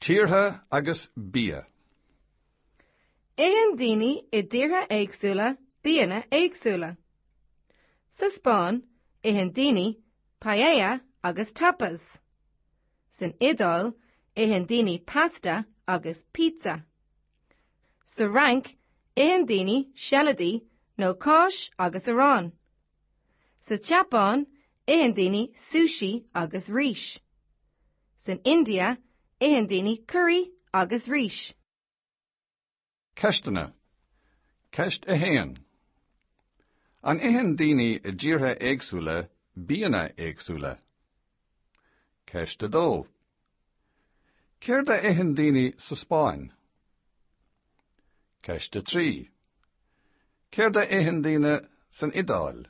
Tíortha agus bia. Itheann daoine i dtíortha éagsúla bianna éagsúla. Sa Spáinn, itheann daoine paella agus tapas. San Iodáil, itheann daoine pasta agus pizza. Sa Fhrainc, itheann daoine seilidí nó cáis agus arán. Sa tSeapáin, itheann daoine sushi agus rís. San India, itheann daoine curaí agus rís. Ceisteanna. Ceist 1. An itheann daoine i dtíortha éagsúla bianna éagsúla? Ceist 2. Céard a itheann daoine sa Spáinn? Ceist 3 Céard a itheann daoine san Iodáil?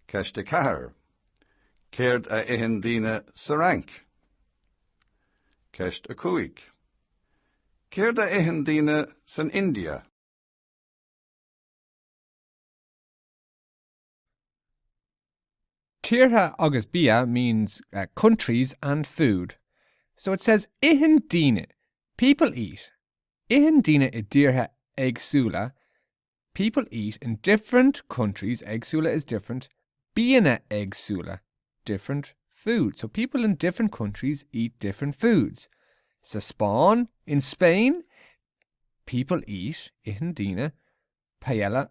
Ceist 4 Céard a itheann daoine sa Fhrainc? Ceist 5 Céard a itheann daoine san India? Tíortha agus bia means countries and food. So it says Itheann daoine people eat Itheann daoine i dtíortha éagsúla people eat in different countries éagsúla is different bianna éagsúla different food. So people in different countries eat different foods. Sa Spáinn In Spain, people eat Itheann daoine paella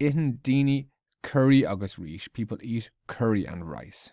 Itheann daoine curry agus rís, people eat curry and rice.